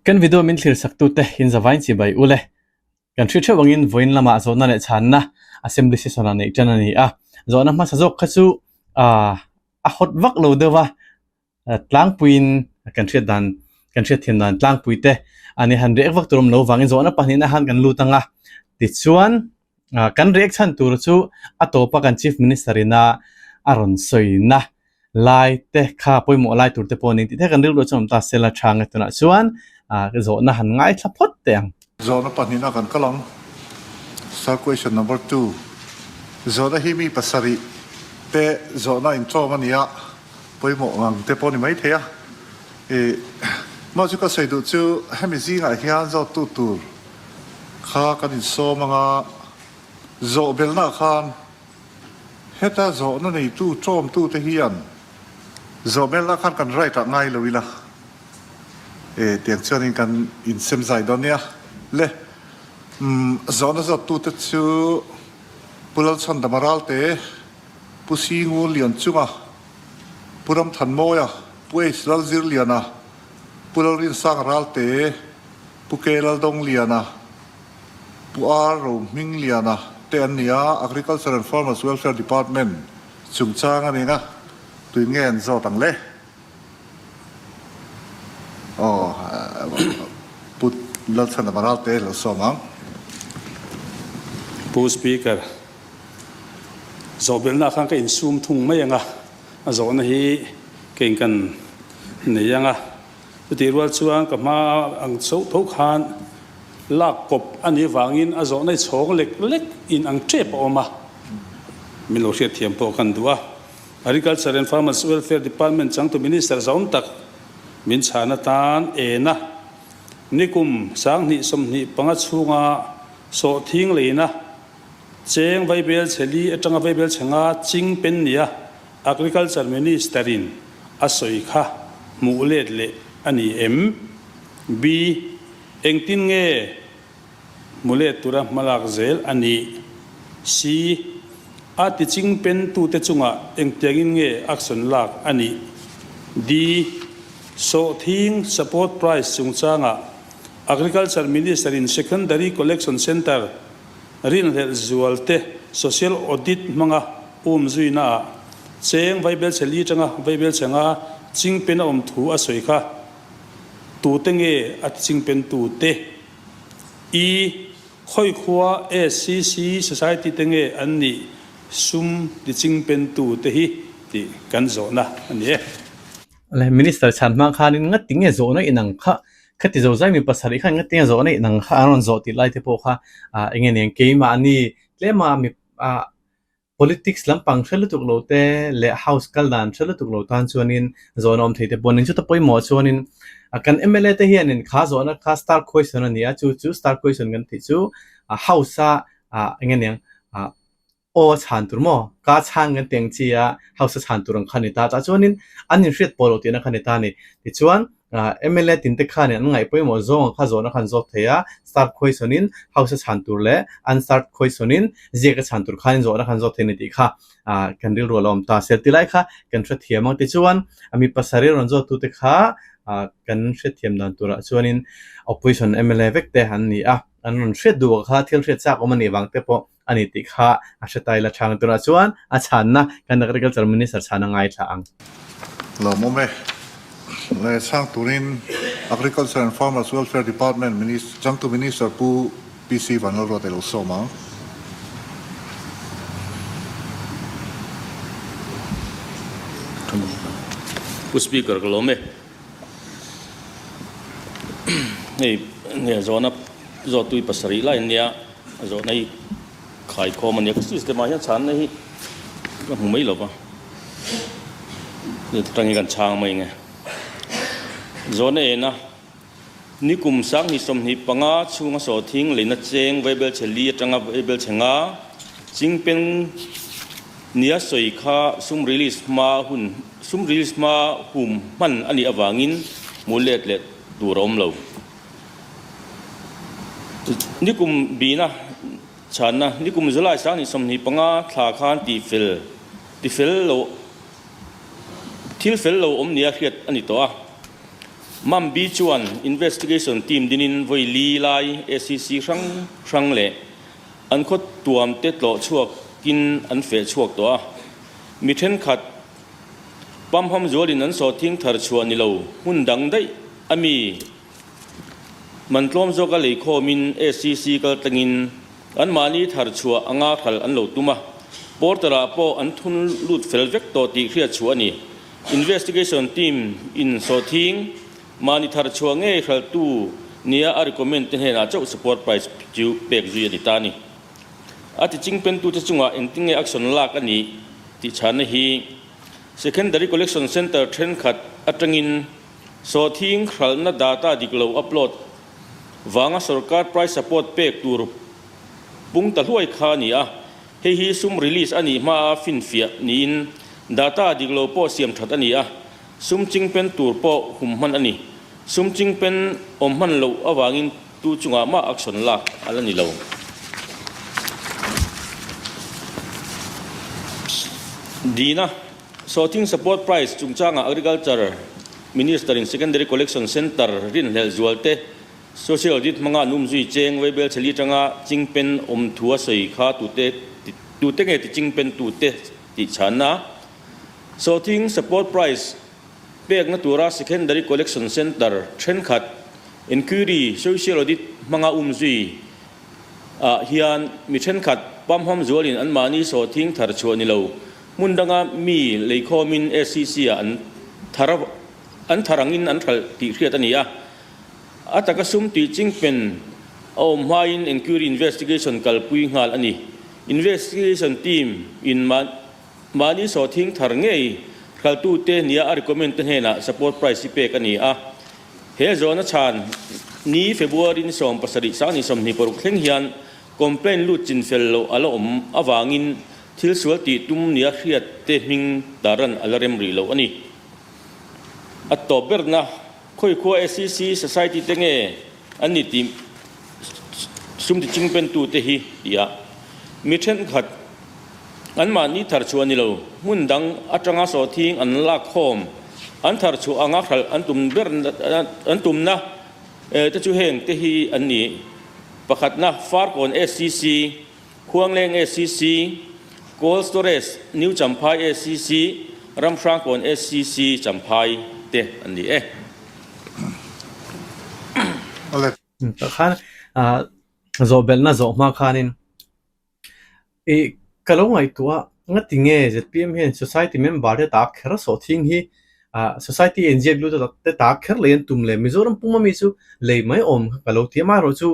Kan video min thlîr saktute in zavaiin chibai u le. Kan hrih theuh angin vawiin lama zawhna leh chhânna assembly session ah neih ṭan a ni a. Zawhna hmasa zawk kha chu aah a hawt vak lo deuh a, tlângpuiin kan hriat dan, kan hriat thiam dan tlângpuite an i han rêk vak tur awm lo vangin zawhna pahnihna han kan lût ang a. Tichuan. Kan riek chhan tur chu a tawpa kan Chief Minister ina a rawn sawina lai te kha pawimawh lai tur te pawh a ning tih te kan rilru a chawm ta Sela Tha nge tunah chuan zawhna han ngaithla phawt teh ang. Zawhna pahnih na kan kal ang. Sir question number two zawhna hi mi pasarih te zawhna in tlawm a nia pawimawh ang te pawh a ni maithei a. Ih, Mahse ka sawi duh chu hemi zingah hian zawt tu tur. kha kan insawm ang a, zawhbelhnaah khan heta zawhna neitu tawmtute hian zawhbelhna khan kan right ah ngai lo ila e tiang chuanin kan insemzai dawn nia. Le umm zawhna zawttute chu Pu Lalchhandama Ralte, Pu Singunlian Chunga, Pu Ramthanmawia, Pu H Lalzirliana, Pu Lalrinsang Ralte, Pu Ke Laldawng Liana, Pu Ar Ro Hming Liana te an ni a, Agriculture and Farmers Welfare Department chung chang a ni nga, tui nge an zawt ang le? Aw, Pu Lalthanam Aralte lo sawm ang. Pu Speaker, zawhbelhna khan ka insum thung mai ang a. A zawhna hi ka inkan nei anga, chutih rual chuan ka hma ang chauh tho khan lak kawp a nih vangin a zawhna hi chhawng lek lek in ang tep a awm a, min lo hriat thiam pawh kan duh a. Agriculture and Farmers Welfare Department changtu Minister zawm tak min chhan atan en a, nikum sanghnih sawmhnih panga chhunga sawhthing leina Cheng Vaibel Chheli atanga Vaibel Chhenga Ching Pen nia Agriculture Minister-in a sawi kha hmuh let leh a ni em? B. Engtin nge hmu let tura hma lak zel a nih? C. A tiching pen tute chungah engtiangin nge action lak a nih? D. Sawhthing Support Price chungchangah Agriculture Minister-in Secondary Collection Centre Rinhlelh zual te social audit hmanga um zuina ah Cheng Vaibelcheli tanga Vaibelcheng a chingpen a awm thu a sawi kha. Tute nge a chingpen tu te? I khawi khua SCC society te nge an nih sum ti chingpen tu te hi tih kan zawhna a ni e. Minister chhan hma khan in ngatin nge zawh na inang kha Kha ti zo zai mi pasarih kha eng nge tia zawh a nih nang kha an rawn zawh tih lai te pawh kha ah enge nen keimahni tlema mi ah politics lampang hre lutuk lo te leh house kal dan hre lutuk lo tan chuanin zawhna awm thei te pawh nen chu ta pawimawh chuanin ah kan MLA te hianin kha zawhna kha star question a ni a chu chu star question kan tih chu ah house a ah enge nen ah Aw a chhan tur maw? Ka chhang kan ti ang chi a, hausa chhan tur ang kha ni ta. Tah chuanin an inhriat pawh lo tihna kha ni ta a ni. Tichuan, mla tin te khanin an ngaih pawimawh zawnga kha zawhna kha an zawk thei a, start khawihsawnin hausa chhan tur leh unstart khawihsawnin ziaka chhan tur khanin zawhna kha an zawk thei a ni tih kha kan rilru a lo awm ta. Seltilai kha kan hrethiam ang. Tichuan, mi pasarih rawn zawtute kha kan hrethiam dan turah chuanin opposition mla vek te an ni a, an rawn hriat duhah kha thil hriat chak awm a nih vang te pawh a ni tih kha a hre ta ila chhang turah chuan a chhanna kan Agriculture Minister chhan a ngai thla ang. Hlawm awm e. Leh chhang turin Agriculture and Farmers Welfare Department Minister, Changtu Minister Pu PC Vanlalruat a lo sawm ang. Pu Speaker ka lawm e. Hei nge zawhna zawhtui pasarih laia nia zawhna hi khai khawm a nia ka system ah hian chhanna hi ka hmu mai lo va chu tang hian kan chhang mai nge zawhna ena Ni kum sang hnih sawmhnih panga chhunga saw thing leina cheng Vaibel chhe li atanga Vaibel chhe nga chingpen nia sawi kha sum release hma hun sum release hma hum hman a nih avangin hmuh let leh tur a awm lo. Ni kum bina chhanna Ni kum July sang hnih sawmhnih panga thla khan tihfel ti fel lo thil fel lo awm nia hriat a ni tawh a. Mam Bi chuan investigation team dingin Vawi-Li lai SCC hrang hrang leh an khaw tuamte tlawh chhuakin an feh chhuak tawh a. Mi thenkhat pam ham zualin an sawhthing thar chhuah ni lo hmun dang daih a mi man tlawm zawka lei khawmin SCC kaltlengin, An mahni thar chhuah a nga kal an lo tum a, Porter-ah pawh an thun lut fel vek tawh tih hriatchhuah a ni. Investigation team in sawhthing mahni thar chhuah ngei hralhtu nia a recommend te hnenah chauh support price chu pek zui a ni ta ni. A tiching pentute chungah engtin nge action lak a nih tih chhanna hi Secondary Collection Centre thenkhat atangin Sawthing hralhna data dik lo upload vanga sawrkar price support pek tur pung ta hluai kha a ni a, hei hi sum release a nih hmaa finfiah niin data dik lo pawh siam that a ni a, sum chingpen tur pawh hum hman a ni. Sum chingpen awm hman loh avangin tu chungah mah action lak a la ni lo. Dina. Sawhting Support Prize chungchanga Agriculture Minister-in Secondary Collection Centre rinhlelh zualte, Social Audit hmanga an umzui cheng Weibel Chheli tanga chingpen awm thu a sawi kha tute tute nge tiching pen tute tih chhanna a Sawhting Support Prize pekna tura Secondary Collection Centre thenkhat Enquiry Social Audit hmanga umzui ah hian mi thenkhat pamham zualin anmahni sawhting thar chhuah nilo Hmun danga mi lei khawmin SCC ah an thar a, an thar angin an hralh tih hriat a ni a. A taka sum tih ching pen a awm hmain Enquiry Investigation kalpui nghal a ni. Investigation team in mah, mahni saw thing thar ngei hraltute nia a recommend te hnenah support price i pek a ni a. He zawn a chhan ni February ni sawm pasarih sang ni sawmhnih paruk thleng hian complaint lut chin fel loh a la awm avangin Thil sual tih tum nia hriat te hming taran ala rem rih loh a ni. A tawp berna khawi khua SCC Society te nge an ni tih sum tiching pentu te hi ti a. Mi thenkhat an mahni thar chhuah ni lo hmun dang atanga sawhthing an lak khawm, an thar chhuah anga hralh an tum ber an tumna te chu heng te hi an ni, Pakhatna, Farkawn SCC, Khuangleng SCC, Cold Storage, New Champhai SCC, Ramhrangkawn SCC, Champhai, te an ni e. Tah khan zawhbelhna zawh hma khanin i ka lo ngaihtuah a, ngatinge zpm hian society member te tak kher sawh thing hi society inziak lut te tak kher leh an tum leh Mizoram puma mi chu lei mai awm kha ka lo ti a, amaherawhchu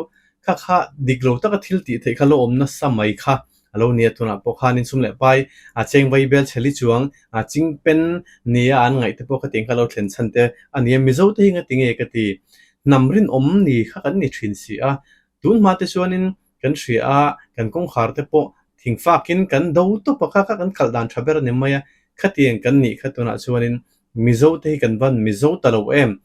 Kha kha dik lo taka thil tih theih kha lo awm nasa mai kha a lo ni a, tunah pawh khan insum leh pai a cheng Bible chheli chuang a ching pen nia an ngaih te pawh kha tiang kha a lo thlen chhan te a ni a, Mizo te hi nga ti nge ka ti? Hnam rinawm ni kha kan ni thin si a, tun hma te chuanin kan hria a, kan kawngkhar te pawh thing fakin kan do tawpa kha kha kan kalh dan tha ber a ni mai a, khatiang kan nih kha tunah chuanin Mizo te hi kan van mizo ta lo em?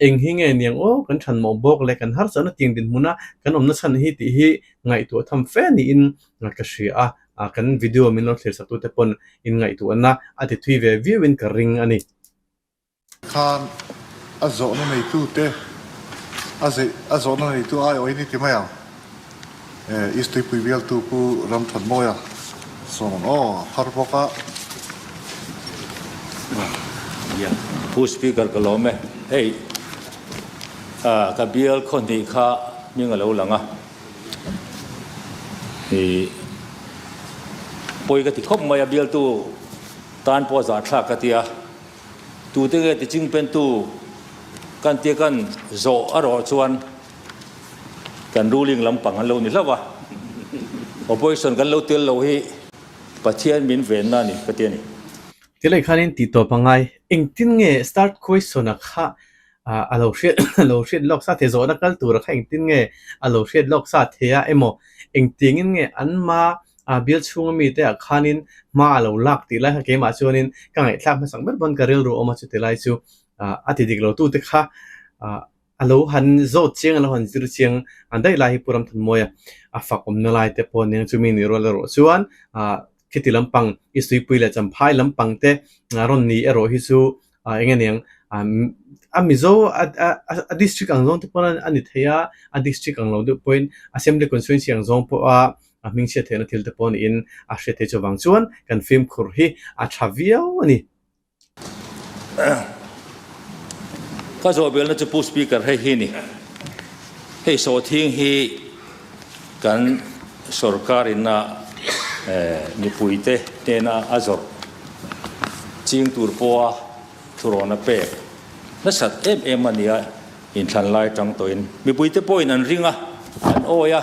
Eng hi nge niang aw kan than mawh bawk le kan harchahna tiang dinhmuna kan awmna chhan hi tih hi ngaihtuah a tham fe niin ka hria a, kan video min lo thlirsakute pawn inngaihtuah na a tithui ve viauin ka ring a ni. Khan a zawhna neitute a zawhna neitu aiawhin i ti mai ang. East tuipui bialtu pu Ramthawnnawia sawm ang aw a phar bawk a. Yaa pu speaker ka lawm e hei ah ka bial khawhnih kha hming a lo lang a i pawi ka ti khawp mai a bialtu tan pawh zahthlak ka ti a tute nge tiching pentu kan tia kan zawh a rawh chuan Kan ruling lampang an lo ni hlauh a, opposition kan lo tel lo hi Pathian min venna a ni ka ti a ni. Tilei khan in ti tawp a ngai, engtin nge start question a kha a lo hriat a lo hriat lawk sa thei, zawhna kal tur a kha engtin nge a lo hriat lawk sa thei a emaw, engtiang in nge an hma a bial chhunga mi te ah khan in hma a lo lak tih lai kha keimah chuan in ka ngaihthlak hmasang ber dawn ka rilru awm a chuti lai chu a ti dik lo tu te kha A lo han zawt chiang, a lo han zir chiang a daih lai hi Pu Ramthunmawia a fak awmna lai te pawh nen chumi ni rual erawh chuan khiti lampang i Suipui leh Champhai lampang te rawn ni erawh hi chu eng nge niang a Mizo a district ang zawng te pawn a ni thei a, a district ang lo deuh pawhin Assembly Constituency ang zawng pawha a hming chhiat theihna thil te pawh niin a hriat theih chu avang chuan kan fimkhur hi a tha viau a ni. Ka zawhbelna chu Pu Speaker hei hi a ni. Hei sawhthing hi kan sorkarin a mipuite hnena a zawrh ching tur pawha thurawn a pek nasat em em a nia inthlanlai tang tawhin mipuite pawhin an ring a, an awi a,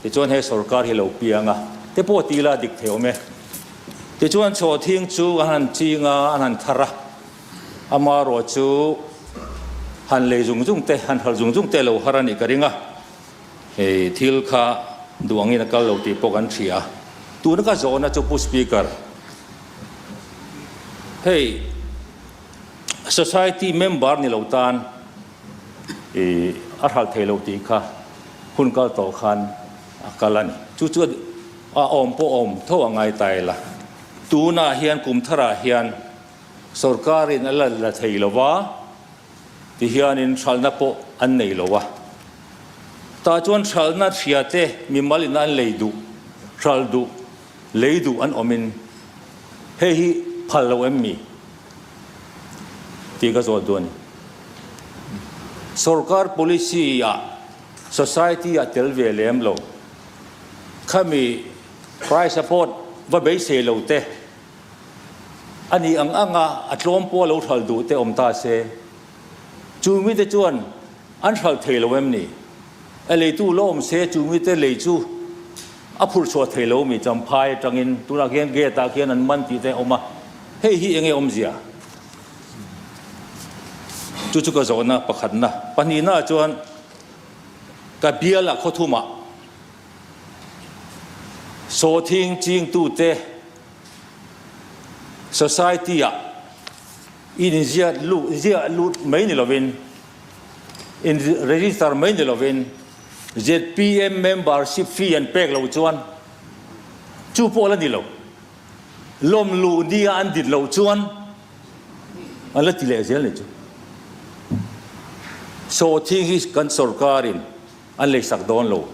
tichuan he sorkar hi lo piang a te pawh ti ila dik theih awm e. Tichuan chawthing chu an han ching a, an han thar a, ama ruah chu han lei zung zung te, han hal zung zung te lo har a nih ka ring a, hei thil kha duh angin a kal lo tih pawh kan hria. Tuna ka zawh na chu Pu Speaker, hei Society member ni lo tan a hral thei lo tih kha hun kal tawh khan, A kal a ni. Chu chu a awm pawh awm tho a ngai ta ila. Tunah hian Kumthara hian sorkarin a la la thei lo va ti hianin hralhna pawh an nei lo a. Tah chuan hralhna hria te mimal in an lei duh, hralh duh, lei duh an awmin hei hi phal lo em mi? tih ka zawt duh a ni. Sorkar policy ah. Society a tel ve lem lo. Khami Christ a pawt va beisei lo te, a nih ang ang a a tlawm pawh a lo hral duh te awm ta se, chu mite chuan an hral thei lo em ni? A leitu la awm se chu mite lei chu a phurh chhuah thei lo mi champhai atangin tunah khian gate ah khian an man tih te a awm a, hei hi enge awmzia? Chu chu ka zawhna pakhatna. Pahnihnaah chuan ka biala khawthumah sawthing chingtute society-a inziak lut ziah lut mai ni lovin, in register mai ni lovin zpm membership fee an pek lo chuan chu pawh la ni lo. Lawm luh nia an dit loh chuan a la ti leh zel ni chu. Saw thing hi kan sorkarin an leisak dawn lo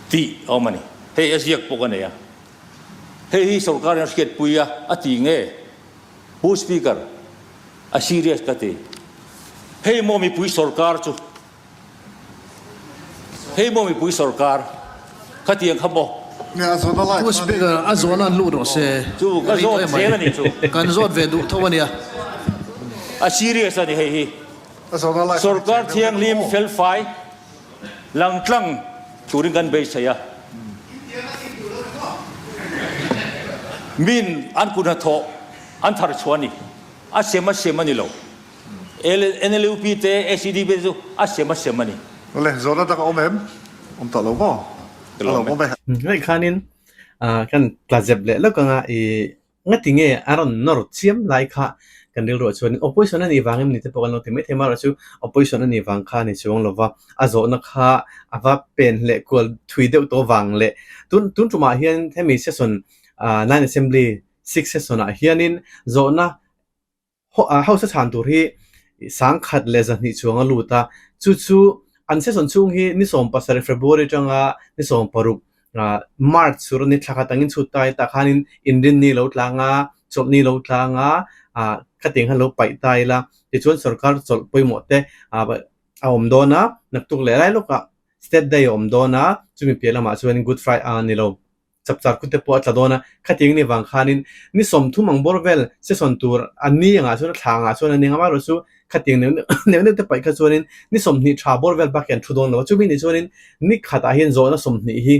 tih a awm a ni. Hei a ziak pawh ka nei a. Hei hi sorkarin a hriatpui a, a ti nge Pu Speaker a serious ka ti. Hei maw mipui sorkar chu Hei maw mipui sawrkar kha tiang kha maw? Pu speaker a zuan a luh rawh se ri tawh em mai kan zawt ve duh tho ania. A serious ani hei hi sawrkar thianghlim felfai lang tlang turin kan bei chei a min an kun hnathawh an thar chhuah ani a sem a sem anilo. NLUP te ACDP te chu a sem a sem a ni. Awle, zawrhna dang a awm em? Awm tawh lo maw? A lo awm e. Hnuaih khanin kan tla zep leh lawk anga i ngatinge a rawn nawr chiam lai kha kan rilru ah chuan opposition a nih vang em ni te pawh kan lo ti maithei marawh chu opposition a nih vang kha a ni chuang lova a zawhna kha a va pen hleh kual thui deuh tawh vang leh tun tun tumah hian hemi session nine assembly six session ah hianin zawhna hausa chhan tur hi sang khat leh zahnih chuang a lut a, chu chu an season chhung hi ni sawm pasarih February atanga ni sawm paruk March chu ni thlak atang in chhut tai tak hian in inrin ni lo tlang a, chawlh ni lo tlang a, khatiang hian lo paih ta ila tichuan sorkar chawlh pawimawh te a awm dawn a, naktuk leh lai lawkah state day a awm dawn a, chumi piah lamah chuan good friday a ni lo. chap char khute pawh a tla dawn a, khatiang ni vang khanin ni sawmthum ang bawr vel sesawn tur an ni angah chuan a thla angah chuan a ni ang a, amaherawh chu khatiang neuh neuh neuh neuh te paih kha chuanin ni sawmhnih tha bawr vel bakah hian thu dawn lo a, chumi nih chuanin ni khatah hian zawhna sawmhnih hi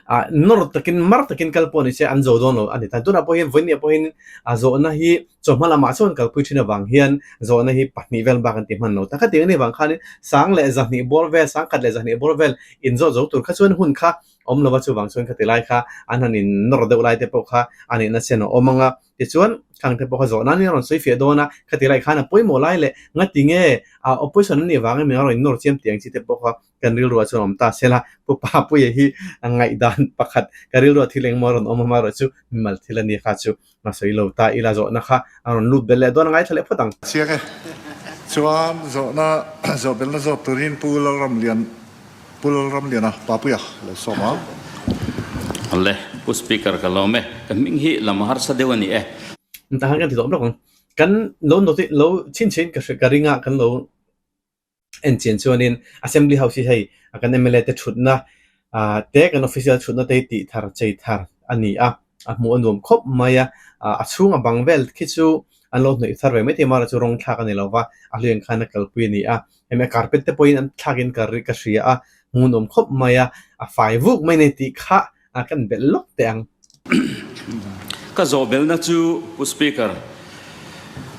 ah nawr takin mar takin kal pawh ni se an zawh dawn lo a ni ta, tunah pawh hian vawinia pawh hian a zawhna hi chawlhma lamah sawn kalpui thin avang hian zawhna hi pahnih vel bak an ti hman lo ta, khatiang ni vang khanin sang leh zahnih bawr vel sangkhat leh zahnih bawr vel inzawh zo tur kha chuan hun kha awm lova chuvang chuan khati lai kha an han in nawr deuh lai te pawh kha a nihna chen a awm ang a tichuan khangte pawh kha zawh nan in a rawn sawi fiah dawn a khati lai khan a pawimawh lai leh ngati nge a opposition an nih vang em in a rawn in nawr chiam tih ang chi te pawh kha kan rilruah chuan awm ta sela pupa puia hi a ngaih dan pakhat ka rilruah thil engmaw a rawn awm a amaherawhchu mimal thil a ni kha chu Hma sawi lo ta ila zawhna kha a rawn lut ber leh dawn a ngaithla leh phawt ang. Chiang e. Chuan zawhna zawhbelna zawt turin Pu Lalramlian Pu Lalramlian a Papuia lo sawm ang. Le Pu Speaker ka lawm e. Ka hming hi lama harsa deuh a ni e. Tah hian kan ti zawk lawk ang. Kan lo notice lo chhin chhin ka ring a kan lo enchian chuanin Assembly House hi hei kan mla te thutna te kan official thutna te tih thar chei thar a ni a, a hmuh a nuam khawp mai a, a chhung a bang vel khi chu an lo hnawih thar ve mai thei a, mahra chu rawng thlak a ni lo va, a hlui ang khan a kalpui a ni a, hemi a carpet te pawhin an thlakin ka hria a, hmuh a nuam khawp mai a, a fai vuk mai a ni tih kha. a kan belh lawk teh ang. Ka zawh belna chu Pu Speaker,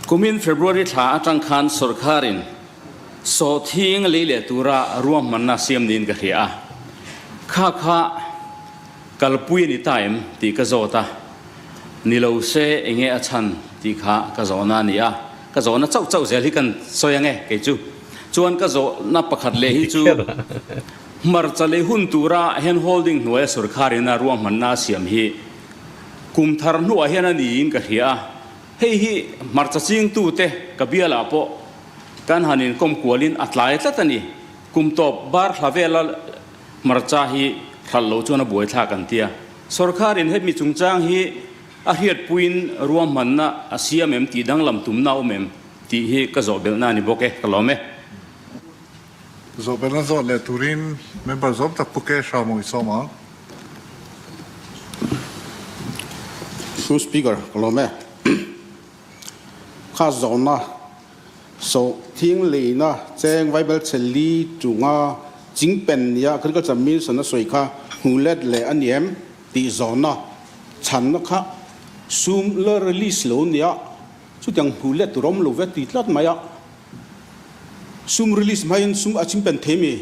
kumin February thla atang khan sawrkarin sawhthing lei leh tura ruahmanna siam niin ka hria a, kha kha kalpui a ni ta em tih ka zawt a, ni lo se enge a chhan tih kha ka zawhna a ni a, ka zawhna chauh chauh zel hi kan sawi ange kei chu, chuan ka zawhna pakhat leh hi chu. Hmarcha leh hun tura hand holding hnuaia sawrkharin a ruahmanna a siam hi kum thar hnuah hian a niin ka hria a, hei hi hmarcha chingtute ka bialah pawh kan han inkawm kualin a tlai tlat a ni, kum tawp bar thla vela hmarcha hi hralh loh chuan a buaithlak an tia. Sawrkharin hemi chungchang hi a hriatpuiin ruahmanna a siam em tih danglam tumna a awm em tih hi ka zawhbelhna a ni bawk e, ka lawm e. Zawhpalna zawt leh turin member zawng tak pu ke hram awh i sawm ang. Through speaker ka lawm e. Kha zawhna sawh thing leina cheng Vaibel Chheli chunga chingpen nia agriculture minister na sawi kha hmu let leh ani em tih zawhna chhanna kha sum la release lo nia chutiang hmu let tur awm lo vek ti tlat mai a. Sum release hmain sum a chimpen thei mi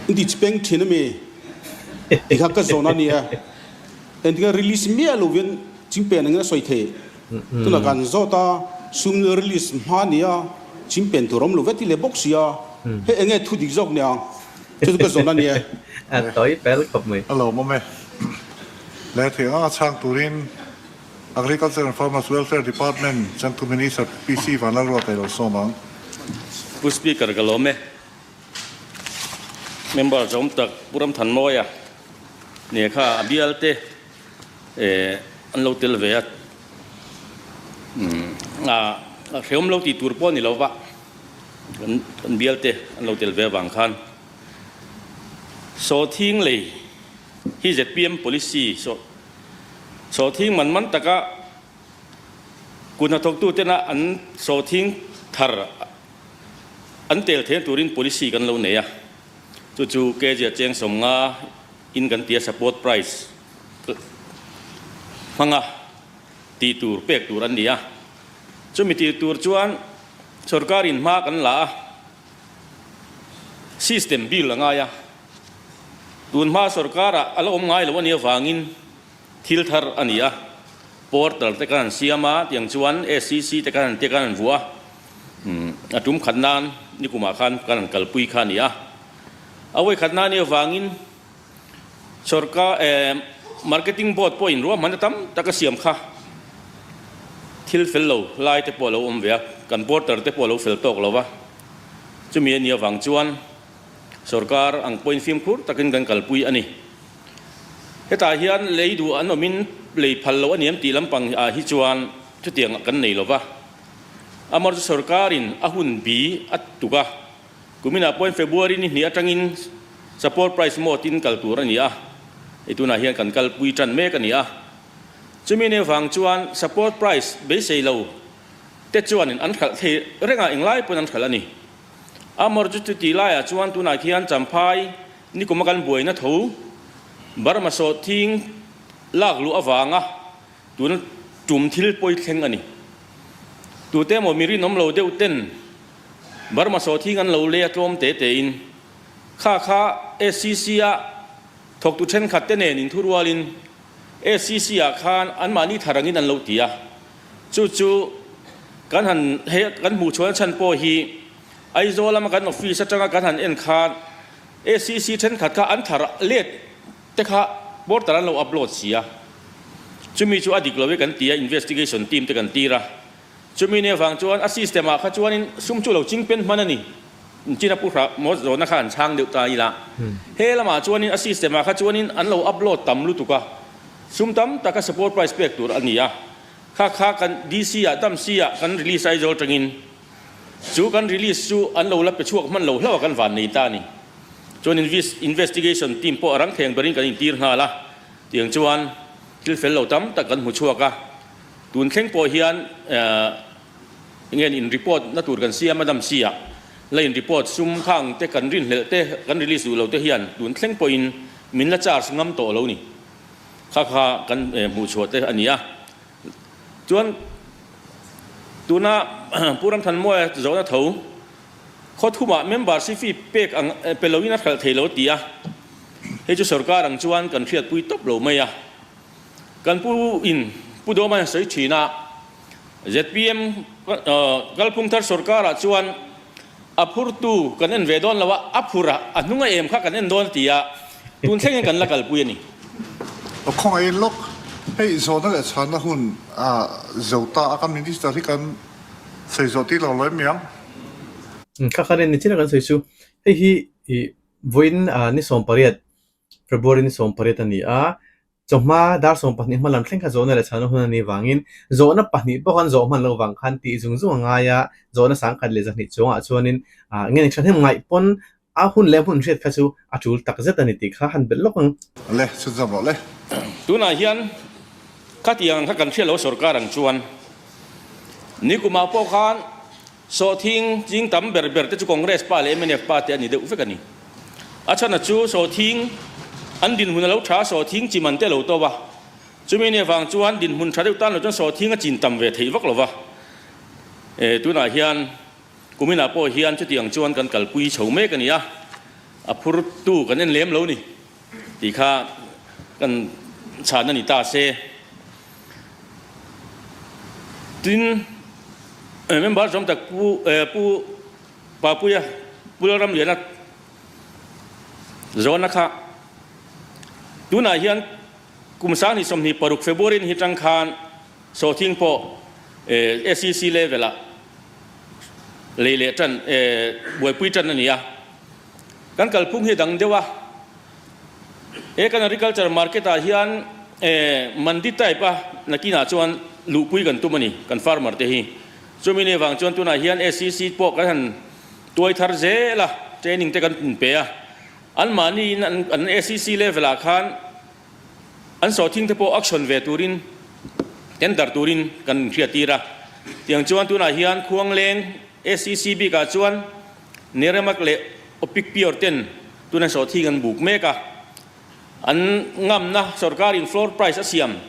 inti chi peng thin ami ti kha ka zawn ania entika release miah lo vian chimpen angin a sawi thei tunah kan zawt a sum release hma nia chimpen tur awm lo vian ti leh bawk sia hei enge thu dik zawk nia chu chu ka zawn ania a tawi fel khawp mai. Alawm awm e. Lehthei anga chhang turin. Agriculture and Farmers Welfare Department Changtu Minister PC Vanlalrua Kailo sawm ang. Pu Speaker ka lawm e. Member zawm tak Pu Ramthanmawia nia kha a bial te an lo tel ve a, a hreawm lo tih tur pawh a ni lova kan bial te an lo tel ve avang khan saw thinglei hi zpm policy saw Sawthing man man taka kut hnathawktu tena an sawthing thar an tel theng turin policy kan lo nei a, chu chu kg a cheng sawm nga in kan tia support price hmanga tih tur pek tur an ni a, chumi tih tur chuan sorkar in hma kan la a. System bill a ngai a, tun hma sorkar ah a la awm ngai lo a nih avangin thil thar a ni a, portal te kan han siam a tiang chuan SCC te kan han tia kan han vuah a, a tum khat nan nikum ah khan kan han kalpui kha a ni a, a vawi khat nan a nih avangin, Sorka emm marketing board pawhin ruahmanna tam taka siam kha thil fel lo lai te pawh a lo awm ve a, kan porter te pawh a lo fel tawk lo va. Chumi a ni avang chuan sorkar ang pawhin fimkhur takin kan kalpui a ni. Hetah hian lei duh an awmin lei phal lo a ni em tih lampang ah hi chuan chutiang kan nei lo va. Amarawhchu sorkarin a hun bi a tuk a. Kuminah pawhin February ni hnih atangin support price maw tin kal tur a ni a, hei tunah hian kan kalpui tan mek a ni a. Chumi nei vang chuan support price beisei lo te chuanin an hralh thei reng a, englai pawn an hralh a ni. A Morjut chu tih laiah chuan tunah khian Champhai nikuma kan buaina tho Burma sawhthing lak luh avanga, Tuna tum thil pawi thleng a ni. Tute emaw mi rinawm lo deuh ten Burma sawthiing an lo lei a tlawm te tein kha kha SCC-a thawktu thenkhat te nen in thu rualin SCC-a khan anmahni thar angin an lo ti a. Chu chu kan han hei kan hmuh chuan a chhan pawh hi Aizawl lama kan office atanga kan han en khan SCC thenkhat kha an thar let Te kha border an lo upload si a, chumi chu a dik lo i kan ti a, investigation team te kan tir a, chumi nen vang chuan a system ah kha chuanin sum chu lo ching pen hman a ni, China pu hrah maw zawhna kha an chhang deuh ta ila, he lamah chuanin a system ah kha chuanin an lo upload tam lutuk a, sum tam tak a support price pek tur a ni a, kha kha kan DC ah, Tamsi ah kan release aizawl tangin Chu kan release chu an lo la pe chhuak hman lo hlauh a kan van nei ta a ni. Chuan investigation team pawh rang theng berin kan intir nghal a, tiang chuan thil fel lo tam tak kan hmu chhuak a. Tun thleng pawh hian engen in report na tur kan siam a Dam Sia la in report sum khang te kan rin hlelh te kan release duh lo te hian tun thleng pawh in min la charge ngam tawh lo ni kha kha kan hmuh chhuah te a ni a. Chuan tuna Pu Ramthanmuaia zawhna tho khaw thumah member si fee pek ang pe loin a hralh thei lo ti a, hei chu sorkar ang chuan kan hriatpui tawp lo mai a. Kan pu in Pu Dawma in sawi thin a, zpm Kalphungthar sorkar ah chuan, A phurtu kan en ve dawn lo a, a phur a, a hnung a em kha kan en dawn ti a, tun thlengin kan la kalpui a ni. Aw khawngah en lawk, hei zawhna leh chhana hun a zo ta a, kan Minister hi kan sawi zawh tir lo lo em iang? Thla khan en ni chin a kan sawi chu, hei hi vawiin ni sawmpariat, February ni sawmpariat a ni a, Chawhma darsawng pahnih hmalam thleng kha zawhna leh chhana hun a ni vangin zawhna pahnih pawh kan zawh hman lo vang khan tih zung zung a ngai a, zawhna sangkhat leh zahnih chungah chuanin engemaw thahnem ngaih pawn a hun leh a hmun hriat kha chu a tul tak zet a ni tih kha a han belh lawk ang. Le chhut zawk loh le. Tunah hian khatiang ang kha kan hriat lo sorkar ang chuan nikuma pawh khan. Sawhthing ching tam ber ber te chu Congress pa leh MNF pa te a ni deuh vek a ni. A chhana chu Sawhthing an dinhmun a lo tha a, Sawhthing chim an te a lo to va. Chumi nia vang chuan dinhmun tha deuh tan lo chuan Sawhthing a chin tam ve theih vak lo va. E, tunah hian Kuminah pawh hian chutiang chuan kan kalpui chho mek a ni a, a phur tu kan en lem lo ni. Tih kha kan chhahna a ni ta se. Tin, member zawng tak pu pu Papuia Pu Lalram Liana zawrhna kha tunah hian kum Sangni sawmhnih paruk February ni hi tang khan sawhthing pawh SEC level ah lei leh tan buaipui tan a ni a. Kan kalphung hi a dang deuh a, he kan agriculture market ah hian mandi type a nakin ah chuan luhpui kan tum a ni kan farmer te hi. Chumi ni vang chuan tunah hian SCC pawh kan han tuai thar zel a, training te kan pun pe a. An mahni in an SCC level ah khan an sawhthing te pawh auction ve turin, tender turin kan hriat tir a. Tiang chuan tunah hian Khuangleng SCC bik ah chuan, Neremak leh Opikpior ten tun an sawhthing an buk mek a, an ngamna sorkar in floor price a siam.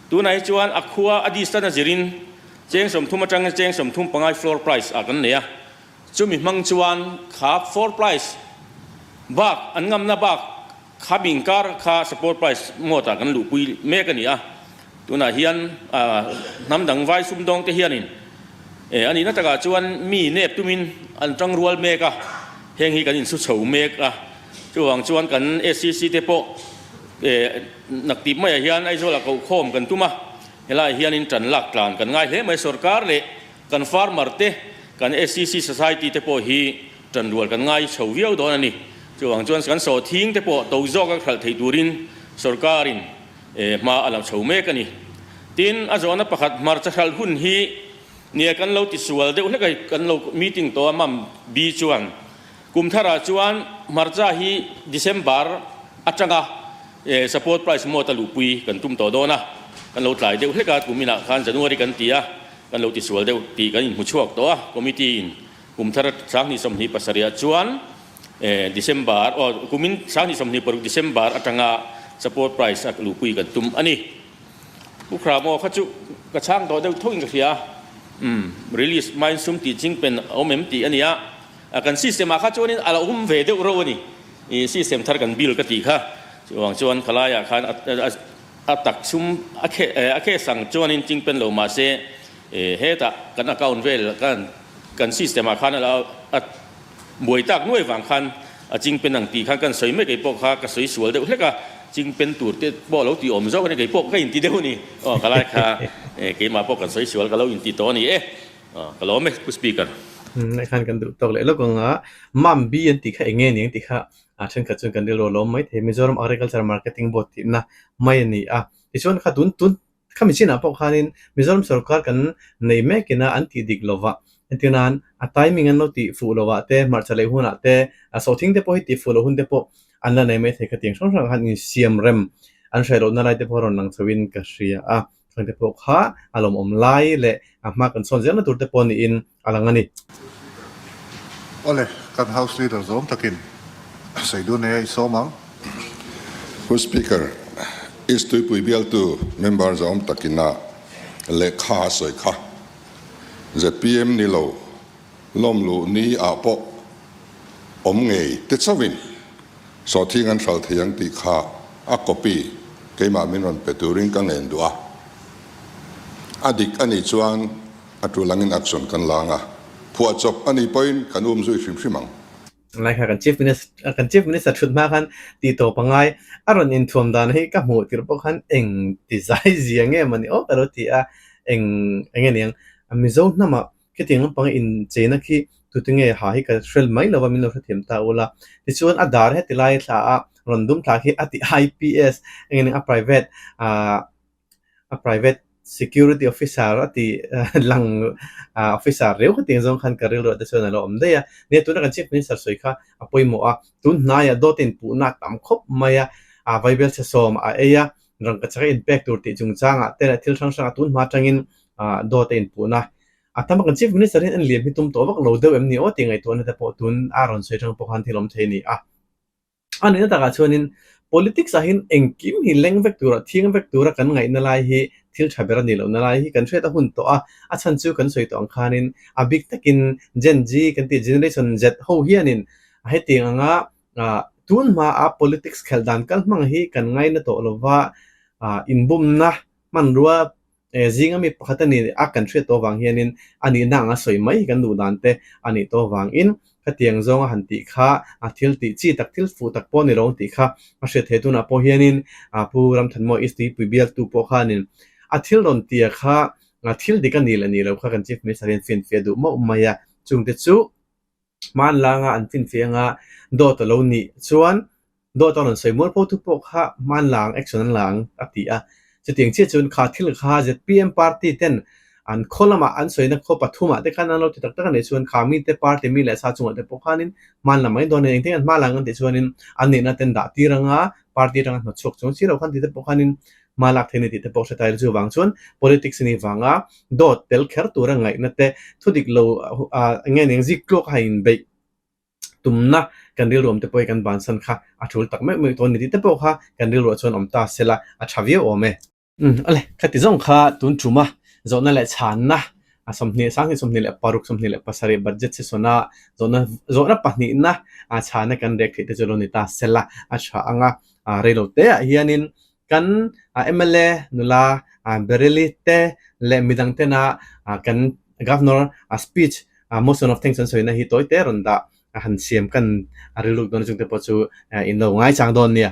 Tunah hi chuan a khua a distant a zir in cheng sawmthum atangin cheng sawmthum pangai floor price ah kan nei a, chumi hmang chuan khap four price bak an ngamna bak, Kham inkar kha Support Prize mawt ah kan luhpui mek a ni a, tunah hian hnam dang vai sumdawng te hian in e a nih na tak ah chuan mi nep tum in an tang rual mek a, heng hi kan in su chho mek a, chuvang chuan kan SCC te pawh e nak tip mai ah hian Aizawl ah koh khawm kan tum a, helai hian in tan lak tlan kan ngai hle mai, sorkar leh. Kan farmer te, kan SCC society te pawh hi tanrual kan ngai chho viau dawn a ni. Chuvang chuan kan sawhthing te pawh to zawk a hralh theih turin sorkarin hma a lo chho mek a ni. Tin, a zawhna pakhat hmarcha hralh hun hi nia kan lo tisual deuh hlekai kan lo meeting tawh a mam bi chuan Kum thar ah chuan hmarcha hi December atang a support price mawt a luhpui kan tum tawh dawn a, kan lo tlai deuh hlek a, kum inah khan January kan ti a, kan lo ti sual deuh tih kan inhmu chhuak tawh a, committee in kum thar sang hnih sawmhnih pasarih ah chuan December aw kum in sang hnih sawmhnih paruk December atang a support price a luhpui kan tum a ni. U Khra maw kha chu ka chhang tawh deuh thawk in ka hria a, umm release mine sum tih ching pen a awm em tih a nia. A kan system ah kha chuanin a lo awm ve deuh reuh a ni. I system thar kan build ka tih kha. Chuvang chuan khalaia ah khan a tak chhum a khe a khes ang chuanin ching pen lo mahse i hetah kan account vel kan kan system ah khan a buai tak nuai vang khan a ching pen ang tih khan kan sawi mai kei pawh kha ka sawi sual deuh hlek a. Ching pen tur te pawh a lo ti awm zawk a ni kei pawh ka inti deuh a ni. Aw khalai kha keimah pawh kan sawi sual ka lo inti tawh a ni e. Aw ka lawm e pu speaker. Umm a khan kan duh tawk leh lawk ang a, mam bi an tih kha eng nge ni ang tih kha a thenkhat chuan kan rilru alawm maithei, Mizoram Agriculture Marketing Board tihna mai a ni a, tichuan kha tun tun kha mi chinah pawh khanin Mizoram sawrkar kan nei mek ina an tih dik lova hetiang nan a timing an lo tih fuh lovah te hmarcha leh hunah te a saw thingte pawh hi tih fuh loh hunte pawh an la nei maithei kha tiang hrang hrangah khan insiam rem an hriat lohna lai te pawh a rawn lang chhohin ka hria a. Thlang te pawh kha a lawmawm lai leh a hma kan sawn ziahna turte pawh niin a lang a ni. Awle, kan House Leader zawm takin, Saidulneia i sawm ang. House Speaker, East Tuipui bialtu member zawm takin a lehkha a sawi kha, zpm ni lo lawmluh ni ah pawh awm ngei te chauhin, Sawthing an hral thei ang tih kha a copy keimah min rawn pe turin ka ngen duh a, a dik anih chuan a tul angin action kan la ang a, phuah chawp anih pawhin kan um zui hrim hrim ang. Ngai kha kan Chief Minister kan Chief Minister thut hma khan ti tawh pangai a rawn inthuam dan hi ka hmuh tir bawk han eng ti zai zia nge mawni aw ka lo ti a, eng enge niang Mizo hnamah Khitiang lampanga incheina khi tutunge ha hi ka hrel mai lova min lo hre thiam ta ula, tichuan a dar heti lai thla a rawn dum thla khi a ti IPS engin eng a private ah a private security officer a ti lang officer reu kha tiang zawng khan ka rilruah te chuan a lo awm daih a nia tuna kan chief minister sawi kha a pawimawh a tun hnaiah dawt a inpuhna a tam khawp mai a a vaibel chhe sawm a ei a Rangkachak a inpek tur tih chungchang ah Tel ah thil hrang hrang a tun hma tangin dawt a inpuh na. A tam angin Chief Minister hian liam hi tum tawh vak lo deuh em ni aw tih ngaihtuahna te pawh tun a rawn sawi tang pawh khan thil awm thei ni a. A nuihna takah chuanin Politics ah hin engkim hi leng vek tur ah thiang vek tura kan ngaihna lai hi thil tha ber a nih lohna lai hi kan hriat a hun tawh a, a chhan chu kan sawi tawh ang khanin a bik takin Gen-Z kan tih Generation Z ho hianin hetiang anga Tun hmaah politics khelh dan kal hmang hi kan ngaina tawh lo va, inbumna hmanrua zinga mi pakhata nih a kan hriat tawh vang hianin a nihna anga sawi mai hi kan duh dan te a nih tawh vangin khatiang zawnga han tih kha thil tih chi tak thil fuh tak pawh a ni lo tih kha a hriat theih tunah pawh hianin Pu Ramthanhmawih East tuipui bialtu pawh khanin a thil rawn tia kha thil dik a ni leh ni lo kha kan Chief Minister hian fianfia duh mauh mai a, chungte chu Hmaan langa an finfeh anga dawt a lo nih chuan dawt a rawn sawi mual pho thu pawh kha hmaan lang action an la ang a ti a. Chutiang chiah chuan kha thil kha zpm party ten an khaw lamah an sawina khaw pathumah te khan an lo ti tak tak a nih chuan kha mite party mi leh sa chungah te pawh khanin hmaan lam mai dawn a ni. Engtin an hmaa lang ang tih chuanin an nihna ten dah tir anga party atanga hnawt chhuak chuang si lo khan tih te pawh khanin hma lak theihna tih te pawh hre tailo chu vang chuan politics ni vanga dawt tel kher tura ngaihna te thudik lo enge eng zik tlawk a inbeih tumna kan rilruam te pawh hi kan bansan kha a ṭhul tak meuh meuh tawh a ni tih te pawh kha kan rilruah chuan awm ta sela a ṭha viau awm e. Awle khati zawng kha tun ṭuma zawhna leh chhanna a sawmhnih sang hi sawmhnih leh paruk sawmhnih leh pasarih budget sisawna zawhna zawhna pahnihna a chhana kan rek theih te chu lo ni ta sela a ṭha anga a rei lo te ah hian in kan mla nula bereli te leh midang te na kan governor a speech a motion of thanks an sawi na hi tawi te rawn dah a han siam kan rilru dawn chung te pawh chu in lo ngai chang dawn nia